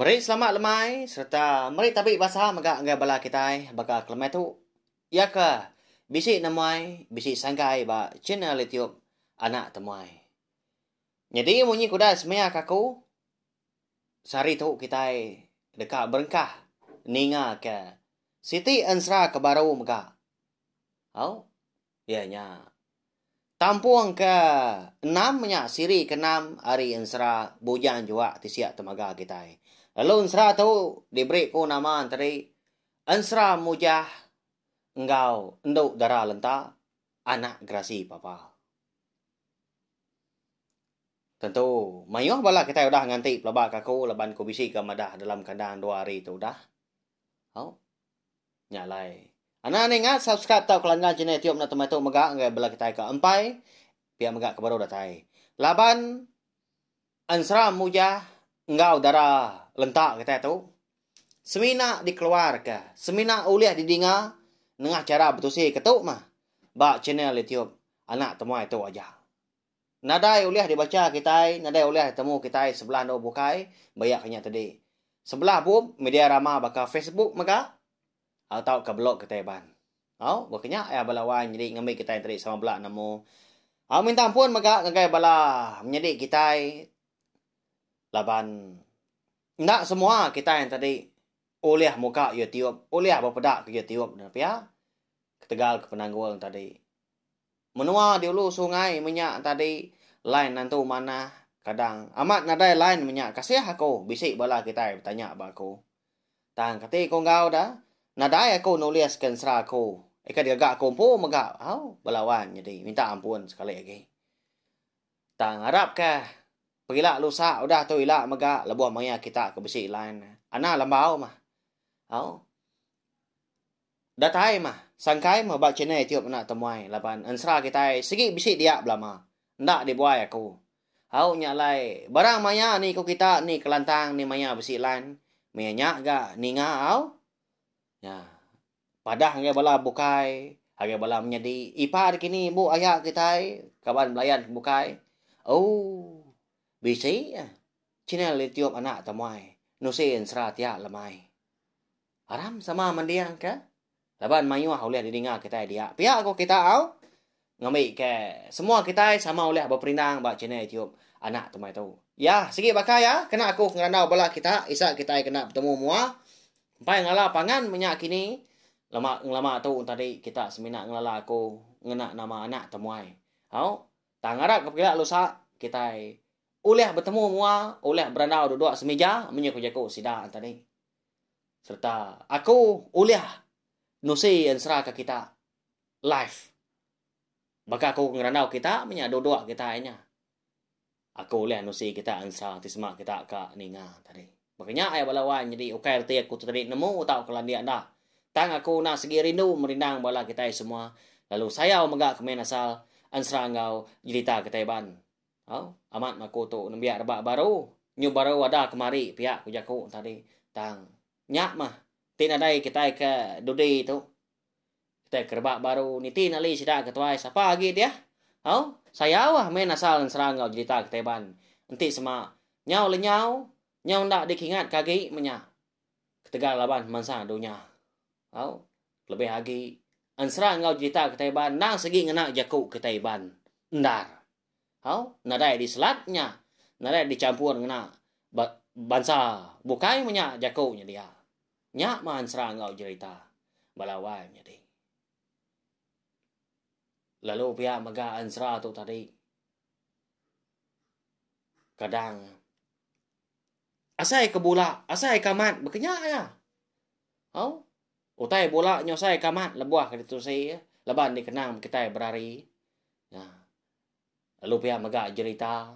Meri selamat lemai sereta meri tabi basa mega enggai bala kitai baka ke lemai tu. Iya ke bisi nemuai bisi sanggai ba channel YouTube Anak Temuai. Nyadi munyi ke udah semaya ke aku sehari tu kitai deka berengkah ninga ke siti ensera ke baru mega. Au. iya nya. Tampung ke enam nya siri ke enam ari ensera Bujang Juak ti siap temaga kitai. Lalu ensera tu diberi ku nama enteri Ensera Mujah enggau Endu Dara Lenta anak gerasi papa. Tentu mayuh bala kitai udah nganti pelaba kaku laban ku bisi ke madah dalam kandang dua hari tu udah. Hau. Nya alai. Anang ni ngat subscribe tau kelanggang channel tiup na tematu mega ngagai bela kitai ka empai. Pia mega ke baru datai. Laban ensera mujah enggau dara lenta kitai tu semina dikeluarka, semina ulih didinga nengah chara betusi ke tu mah ba channel YouTube Anak Temuai tu aja. Nadai ulih dibacha kitai, nadai ulih ditemu kitai sebelah endur bukai ba iya ke nya tadi. Sebelah bup media rama baka Facebook mega au tauka blog kitai ban. Au, ba ke nya iya bala wan nyadi ngambi kitai enteri sama bela nemu. Au minta ampun mega ngagai bala menyadi kitai laban enda semua kitai tadi ulih muka YouTube, ulih bepeda ke YouTube ne pia ketegal ke penanggul tadi. Menua di ulu sungai menya tadi line nentu manah kadang amat nadai line menya kasih aku bisi bala kitai betanya ba aku. Tang kati ku enggau da nadai aku nulis ke ensera aku ika digaga aku empu mega au bala wan nyadi minta ampun sekali agi. Tang arap ka pegila lusa udah tu ila mega lebuh maya kita ke bisi line. Ana lembau mah. Au. Datai mah, sangkai meh ba channel youtube enda temuai laban ensra kitai sigi bisi dia belama. Enda dibuai aku. Au nya alai, barang maya ni ku kita ni kelantang ni maya bisi lan, meh nya ga ninga au. Nya. Padah ngagai bala bukai, ngagai bala menyadi, ipar kini embu aya kitai kaban belayan ke bukai. Au. Bisi channel youtube enda temuai nusi ensra tiap lemai. Aram sama mending ke laban mayuh ulih didinga kitai dia. Pia ko kita au ngambi ke semua kitai sama ulih beperindang ba channel YouTube anak tumai tu. Ya, sigi baka ya kena aku ngerandau bala kita isa kitai kena betemu mua. Empai ngala pangan menya kini lama ngelama tu tadi kita semina ngelala aku ngena nama anak temuai. Au, tang ngarap ke pegila lusa kitai ulih betemu mua, ulih berandau duduk semija menyu ko jaku sida tadi. sereta aku ulih nusi ensera ke kita live. Baka aku ngerandau kita menya duduk kita nya. Aku ulih nusi kita ensera ti sema kita ka ninga tadi. Baka nya ai bala wan nyadi ukai reti aku tu tadi nemu tau ke landik enda. Tang aku enda segi rindu merindang bala kitai semua lalu sayau mega kemin asal ensera enggau jerita kitai ban. Au, amat mah aku tu nembiak rebak baru. Nyu baru ada kemari pia ku jaku tadi. Tang nya mah ti nadai kitai ke dudi tu. Kitai ke rebak baru niti nali sida ke tuai sapa agi diah. Au, sayau ah main asal nensera enggau jerita kitai ban. Enti sema nyau lenyau, nyau enda dikingat ke agi meh nya. Ketegal laban mansa dunya. Au, kelebih agi ensera enggau jerita kitai ban endang sigi ngena jaku kitai ban. Endar. Hau, nadai diselat nya, nadai dichampur ngena ba, bansa bukai menya jaku nya dia. Nya maan sera enggau jerita bala wai menyadi. Lalu pia mega ensera tu tadi. Kadang asai ke bula, asai ke amat baka nya aja. Hau. Utai bula nyusai ka amat lebuh ke ditusi laban dikenang bekitai berari. Nya. Lalu pia mega jerita.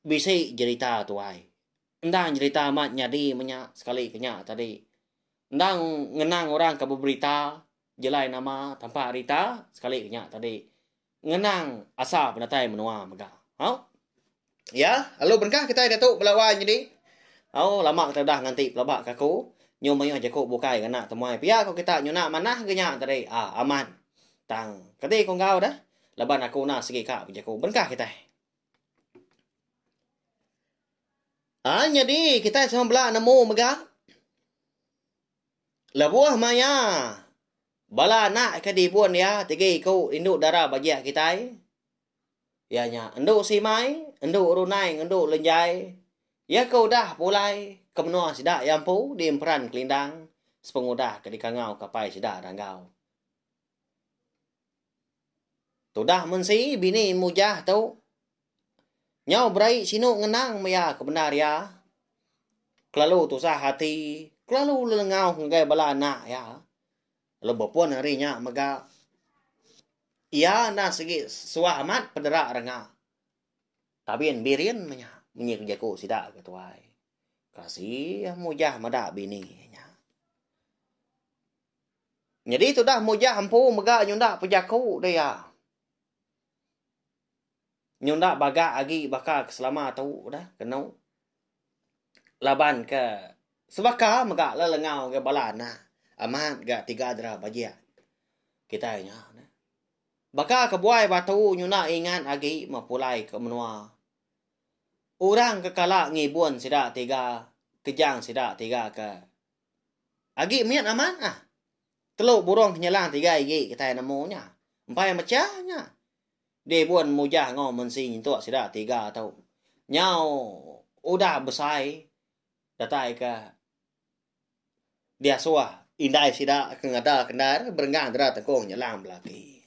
Bisi jerita tuai. Endang jerita amat nyadi menya sekali ke nya tadi. Endang ngenang orang ke beberita jelai nama tampa rita sekali ke nya tadi. ngenang asa benatai menua mega. Au. Ya, lalu bengkah kitai diatu bela wai nyadi. Au, lama kitai udah nganti pelaba ke aku. Nyu mayuh jaku bukai ngena temuai pia ko kita nyuna manah ge nya tadi. Ah, amat. Tang, kati ko enggau deh? Laban aku na sigi ka bejaku bengkah kitai. Ah, nyadi kitai sama bela nemu mega. Lebuh maya Bala anak ke dibun iya tiga iku indu dara bajih kitai, iya nya Endu Simai, Endu Runai ngendu Lenjai. Iya ke udah pulai ke menua sida iya empu di Emperan Kelindang sepengudah ke dikangau ke apai sida Ranggau. Tudah mensi bini Mujah tu. Nyau berai sinu ngenang maya ke bendar iya kelalu tusah ati, kelalu lelengau ngagai bala anak iya lalu bepun ari nya mega iya enda sigi suah amat pedera renga Abin Birin menya munyi ke jaku sida ke tuai. Kasih mujah meda bini nya. Nyadi tudah mujah empu mega nyunda pe jaku da iya. nyunda baga agi baka ke selama tu dah kenu laban ke sebaka mega le lengau ga bala anak amat ga tiga dera bajik kitai nya neh baka ke buai batu nyunda ingat agi ma pulai ke menua orang ke kala ngibun sida tiga kejang sida tiga ke agi mit amat ah telu burung ke nyelang tiga igi kitai nemu nya empai mecha nya. Deh bun mujah enggau mensi nyentuk sida tiga tu. Nyau udah besai datai ka diasuh indai sida ke ngadaka endai re berenggang dera tengkung nyelang belaki.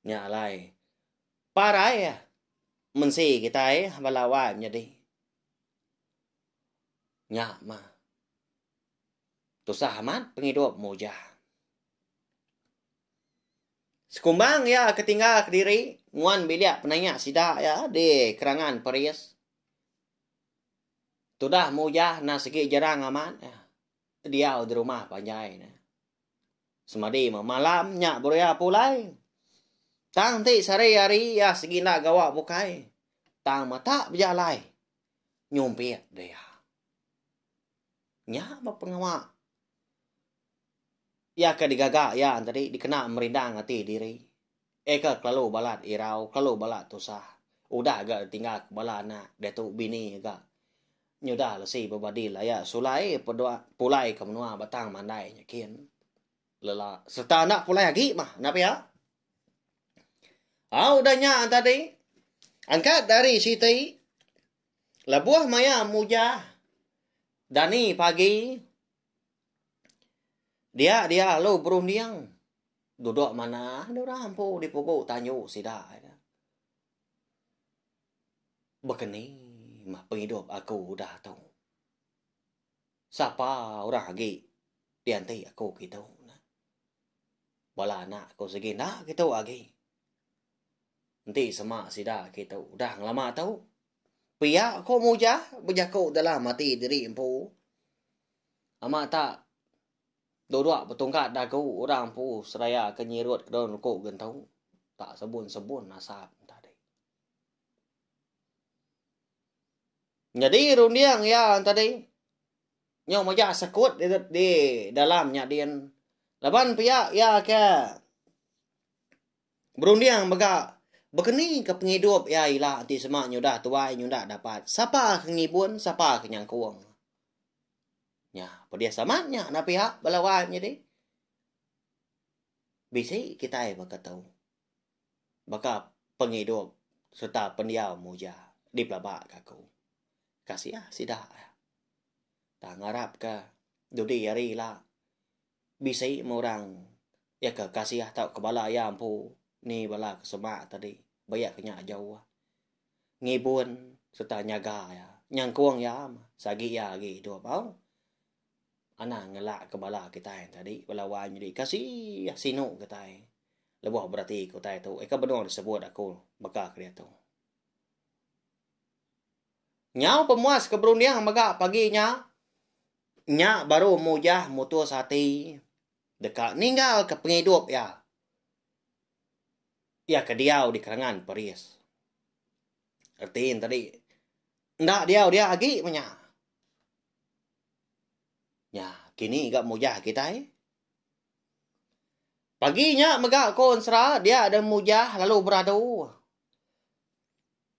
Nya alai parai mensi kitai bala wai menyadi. Nya mah. Tusah amat pengidup mujah. Sekumbang iya ke tinggal kediri nguan bilik penanya sida iya di Kerangan Paris. Tudah mujah enda segi jarang amat iya diau di rumah panjai ne. Semadi meh malam nya baru iya pulai. Tang ti sehari hari iya segi enda gawa bukai. Tang mata bejalai nyumpit dia. Nya meh pengawa Iya ke digaga iya tadi dikena merindang ati diri. Eka kelalu balat irau, kelalu balat tusah. Udah ga ditinggal ke bala anak diatu bini ga nyudah lesi bebadi laya sulai pedua pulai ke menua batang mandai nya kin. Lela sereta enda pulai agi mah enda pia. Au udah nya tadi angkat dari siti lebuh maya mujah dani pagi Dia dia lalu berunding. Duduk manah dia orang empu di pugu tanyu sida. Bekeni mah pengidup aku udah tu. Sapa orang agi dianti aku kitu. Bala anak aku sigi enda kitu agi. Enti sema sida kitu udah lama tu. Pia ko muja bejaku dalam ati diri empu. Ama ta duduk betungkat dagu orang empu seraya ke nyirut kedon ruku gentu. Tak sebun-sebun nasab tadi. Jadi runding ya tadi. Nyo majak sekut di, di dalam nyadin. Laban pia ya ke Berunding mega bekenika pengidup iya ila enti sema nyudah tuai nyudah dapat sapa ke ngibun sapa ke nyangkung. Nya pedis amat nya enda piak bala wai menyadi. Bisi kitai baka tu. Baka pengidup sereta pendiau muja dipelabaka aku. Kasiah sida. Tang ngarapka dudi hari ila. bisi meh orang iya ke kasih tau ke bala iya empu ni bala ke semak tadi ba iya ke nya jauh ngibun sereta nyaga iya nyengkung iya meh sagi iya agi idup au anang ngelak ke bala kitai tadi bala wan tadi kasih sinu kitai lebuh berati kitai tu ika benung disebut aku baka keditu. Nyau pemuas ke berunding mega pagi nya, nya baru Mujah mutus ati deka ninggalka pengidup iya. Iya ke diau di Kerengan Peris. Reti nya tadi, enda diau dia agi meh nya. Nya, kini ga Mujah kitai. Pagi nya mega ko ensera dia dan Mujah lalu beradu.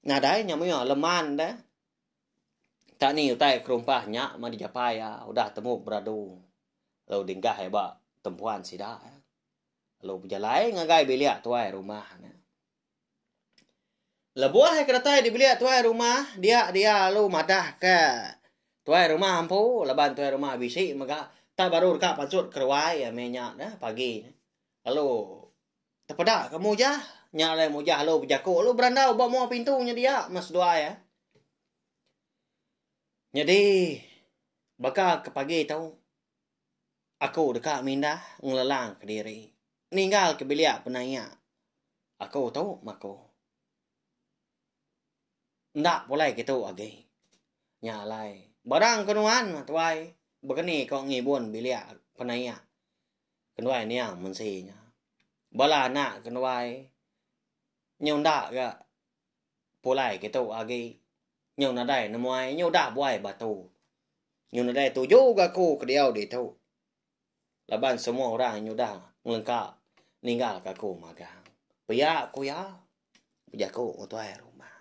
nadai nya mih leman deh. Tang ni utai kerumpah nya mah dijapai iya udah temu beradu lalu dingah iya ba tempuan sida. Lalu bejalai ngagai bilik tuai rumah ne. Lebuh iya ke datai di bilik tuai rumah, dia dia lalu madahka tuai rumah empu laban tuai rumah bisi mega tang baru deka pansut ke ruai iya mih nya pagi. Lalu. Tepeda ke mujah. Nya alai mujah alu bejaku alu berandau ba mua pintu nyedia mas duai ah. Nyadi baka ke pagi tu aku deka mindah ngelelang ke diri ninggal ke bilik penaia aku tu maku. Enda pulai kitu agi. Nya alai barang ke nuan mah tuai begeni ko ngibun bilik penaia Kenuai niang mensi nya. Bala anak kenuai nyunda ga pulai kitu agi. Nyu nadai nemuai nyu udah buai batu. Nyu nadai tuju ga aku ke diau ditu. Laban semua orang nyuda ngelengka ninggal ka aku magang. Pia ku iya bejaku ngan tuai rumah.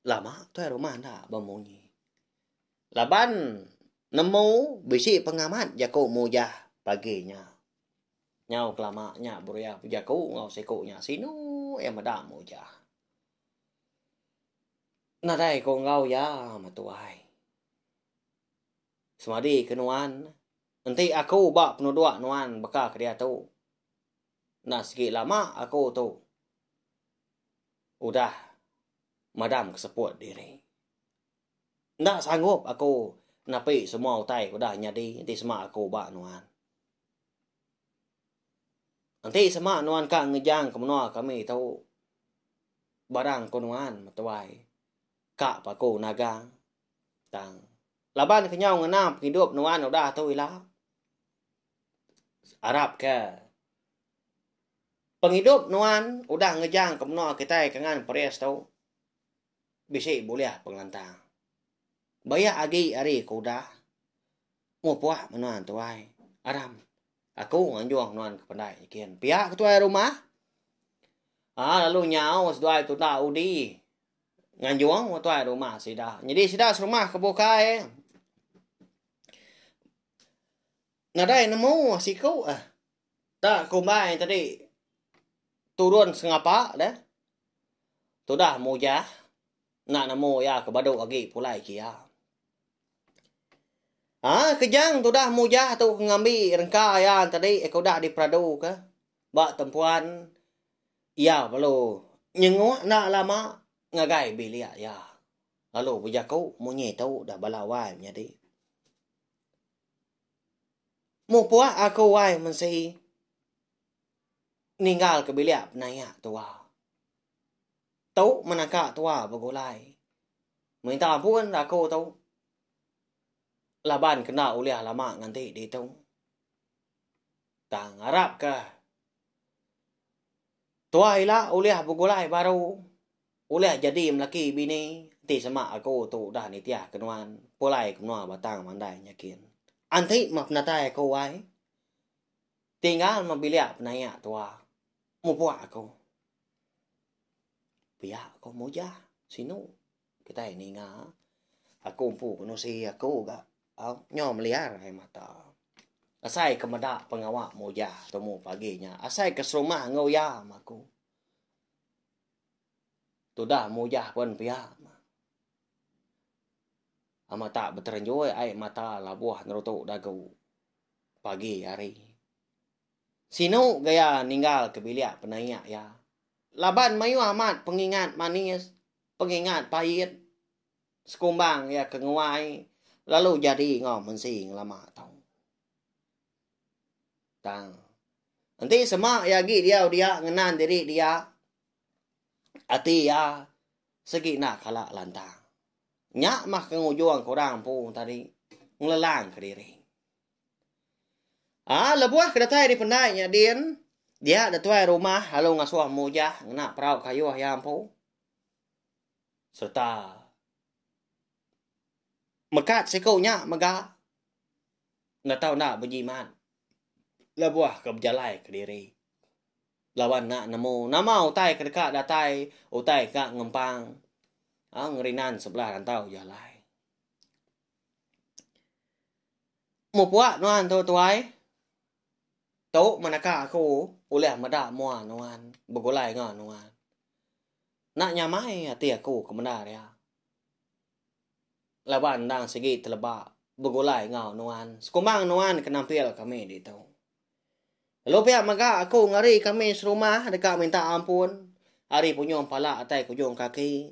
Lama tuai rumah enda bemunyi. Laban nemu bisi pengamat jaku mujah pagi nya. Nyau kelama nya Buriah bejaku enggau siku nya sinu iya meda mujah. Nadai ku enggau iya meh tuai. Semadi ke nuan enti aku ba penuduk nuan baka ke diatu. Enda sigi lama aku tu udah madam ke seput diri. Enda sanggup aku napi semua utai ke udah nyadi enti sema aku ba nuan. Enti sema nuan ka ngejang ke menua kami tu, barang ku nuan metuai ka paku nagang tang laban ke nyau ngena pengidup nuan udah tu ila, arap ke pengidup nuan udah ngejang ke menua kitai ke ngan Paris tu. bisi bulih pengelantang. Bayak agi ari ke udah mupuk me nuan tuai aram aku nganjung nuan ke pendai nyikin pia ke tuai rumah aa lalu nyau seduai tuda udi nganjung me tuai rumah sida nyadi sida serumah ke bukai nadai nemu siku eh. Da kumbai tadi turun sengapa deh tudah mujah enda nemu iya ke badu agi pulai ke iya. Ha kejang tudah mujah tu ke ngambi rengka iya tadi ke udah diperaduka ba tempuan iya perlu nyengok enda lama ngagai bilik iya lalu bejaku munyi tu udah bala wai menyadi. Meh puak aku wai mensii ninggal ke bilik penayak tua. Tu menaka tua begulai. Minta ampun da aku tu. Laban kenda ulih lama nganti ditu. Tang arap ke tua ila ulih begulai baru. Ulah jadi melaki bini enti sema aku tu udah nitih ke nuan pulai ke menua batang mandai nyakin. Enti meh penatai aku ai tinggal meh bilik penaia tua mupuk aku. Pia ko mujah sinu kitai ninga aku empu kenusi aku ga au nyo meliar ai mata. Asai ke meda pengawa mujah tumu pagi nya asai ke serumah enggau iya meh aku. Tudah mujah pen pia. Amat tak beterenjoi ai mata labuh nerutu dagu pagi hari. Sinu gaya ninggal ke bilik penaik ya. Laban mayuh amat pengingat manis, pengingat pait sekumbang ya ke nguai lalu jadi enggau mensi ngelama tau. Tang. Enti sema iya agi diau dia ngenan diri dia, ati iya segi enda kala lantang. Nya mah ke ngujung kurang empu tadi ngelelangka diri. Ah, lebuh ke datai ari pendai nya din, dia da tuai rumah lalu ngasuh mujah ngena perau kayuh iya empu. Sereta Mekat siku nya mega enda tau enda bejimat lebuh ke bejalai kediri laban enda nemu nama utai ke deka datai, utai ke ngempang ngerinan sebelah rantau je alai. Mupuk nuan tu tuai, tu menaka aku ulih meda mua nuan, begulai enggau nuan. Enda nyamai ati aku ke menda ria. Laban endang sigi teleba begulai enggau nuan. Sekumbang nuan ke nampil kami ditu. Lalu pia mega aku ngari kami serumah deka minta ampun ari punyung pala atai kujung kaki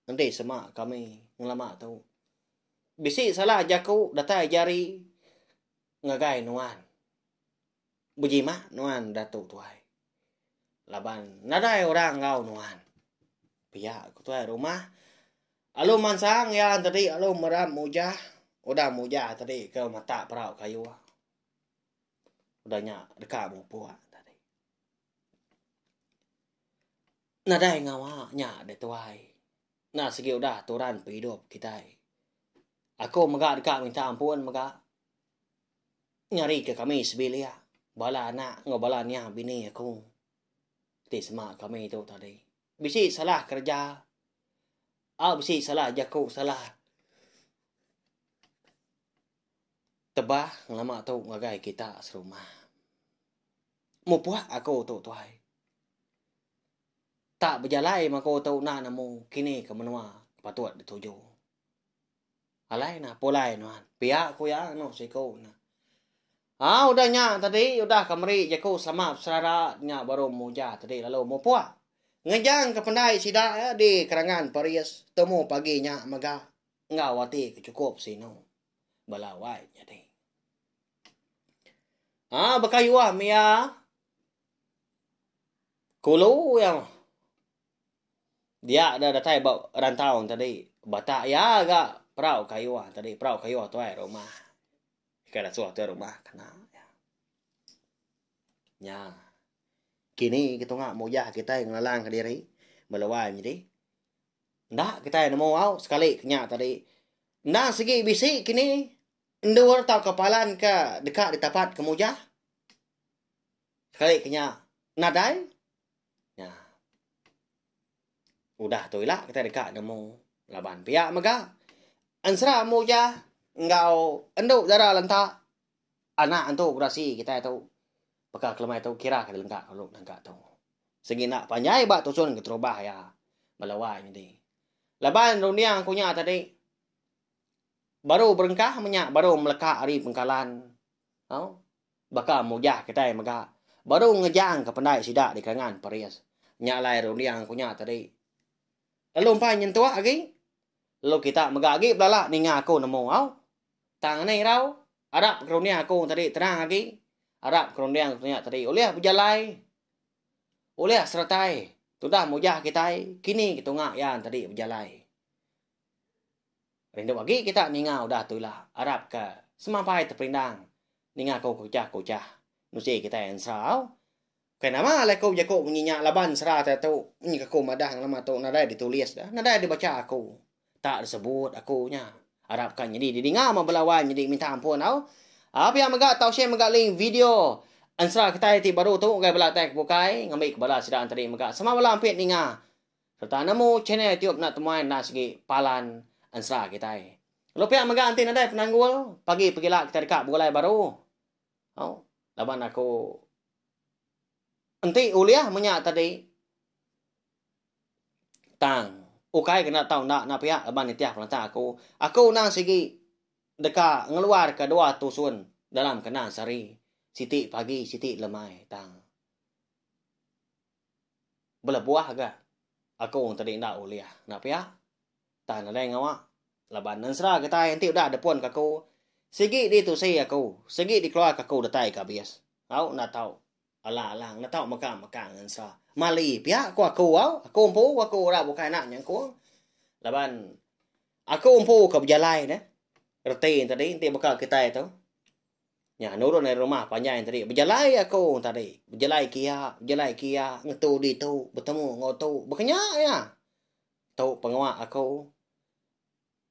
enti sema kami ngelama tu. Bisi salah jaku datai jari ngagai nuan. Bejimat nuan Datu Tuai. Laban nadai orang enggau nuan. Pia ku tuai rumah. Alu mansang ya tadi alu meram mujah. Udah mujah tadi ke mata perau kayu. Udah nya deka mupuk tadi. Nadai ngawa nya deh tuai. Nah sigi udah turan penghidup kitai. Aku mega deka minta ampun mega. ngarika kami sebilik bala anak enggau bala nya bini aku ti sema kami tu tadi. Bisi salah kereja au bisi salah jaku salah tebah ngelama tu ngagai kita serumah. Mupuk aku tu tuai. Tak bejalai mah aku tu enda nemu kini ke menua patut dituju. Alai nah pulai nuan. Pia ku iya anu siku nah. Ah udah nya tadi udah ka meri jaku sama beserara nya baru muja tadi lalu mupuk. Ngejang ke pendai sida ya di kerangan Paris temu pagi nya mega enggau ati ke cukup sinu. Bala wai nyadi. Ah baka yuah mia kulu ya. Dia da datai ba rantau tadi bata iya ga perau kayuh tadi perau kayuh tuai rumah. Ka datuh tuai rumah kena iya. Nya kini ke tunga mujah kitai ngelalangka diri melo ai nyadi enda kitai nemu au sekali ke nya tadi endang sigi bisi kini endur tauka palan ka deka ditapatka mujah sekali ke nya nadai. Nya. Udah tu ila kitai deka nemu laban pia mega ensera mujah enggau endu dara lenta anak antu gerasi kitai tu baka kelemai tu kira ke lengka lalu nengka tu. Sigi enda panjai ba tusun keterubah iya bala wai nyadi. Laban runding ku nya tadi baru berengkah menya baru meleka ari pengkalan. Au. baka mujah kitai mega baru ngejangka pendai sida di Kelangan, Paris. Nya alai runding aku nya tadi. Lalu empai nyentuk agi. Lalu kita mega agi belala ninga aku nemu au. Tang ni irau arap runding aku tadi tenang agi. Arap runding aku nya tadi ulih bejalai. Ulih seretai tudah mujah kitai kini ketunga iya tadi bejalai. Rindu agi kita ninga udah tu ila. Arap ka semampai teperindang ninga ko kuchah kuchah nusi kitai ensau. Bukai nama alai ko jaku munyi nya laban sera te tu munyi ke ko madah nama tu nadai di tulis da nadai di bacha aku tak di sebut aku nya. Arap ka nyadi di dinga ma bala wan nyadi minta ampun au. Au pia mega tau share mega link video ensera kitai ti baru tu ngagai bala kitai ke bukai ngambi ke bala sida enti mega sama bala ampit ninga Serta nemu channel tiup enda temuai enda segi palan ensera kitai. Lalu pia mega enti nadai penanggul, pagi pegila kitai deka begulai baru. Au. Laban aku enti ulih menya tadi tang ukai ke enda tau enda enda pia laban nitih pengelantang aku. Aku endang sigi deka ngeluarka dua tusun dalam kandang sehari. Siti pagi siti lemai tang. belebuh ga aku tadi enda ulih enda pia tang nadai ngawa laban ensera kitai enti udah depun ka aku sigi ditusi aku sigi dikeluar ka aku datai ka bis au enda tau alang alang enda tau mega mega ngan ensera mali pia ku aku au aku empu aku ura bukai anak nyengkung laban aku empu ka bejalai ne reti tadi enti baka kitai tu. Nya nurun ari rumah panjai nya tadi. Bejalai aku orang tadi. Bejalai kia, bejalai kia, ngetu ditu, betemu enggau tu. Bekenya iya. Tu pengawa aku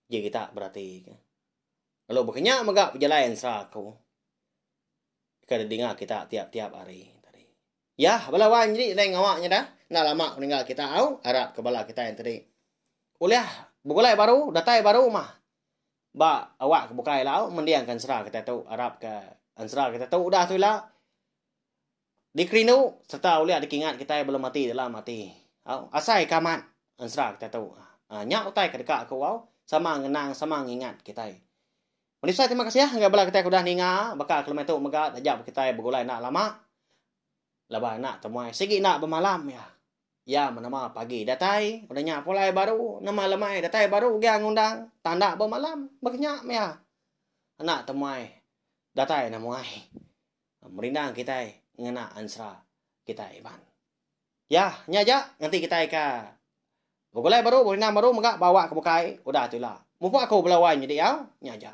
ji kita berati ke. Lalu bekenya mega bejalai ensera aku. Ke didinga kita tiap-tiap hari. Yah bala wan nyadi lain ngawa nya dah. Enda lama meninggal kita au. Arapka bala kitai nya tadi ulih begulai baru, datai baru mah. Ba awak ke bukai ila au mending ke ensera kita tu arap ke ensera kita tu udah tu ila dikerindu serta ulih dikingat kitai belum mati dalam ati. Au asai ke amat ensera kita tu. Ah nya utai ke deka aku au sama ngenang sama ngingat kitai. Meri besai terima kasih ngagai bala kitai ke udah ninga baka kelumai tu mega taja kitai begulai enda lama laban enda temuai sigi enda bemalam iya. Iya menama pagi datai, udah nya pulai baru, nema lemai datai baru ugai ngundang, tanda ba malam, baka nya mia. Anak temuai datai nemuai. Merindang kitai ngena ansra kitai iban. Ya, nya aja nganti kitai ka begulai baru, berindang baru mega bawa ke bukai, udah tu ila. Mupuk aku bala wai nyidi au, nya aja.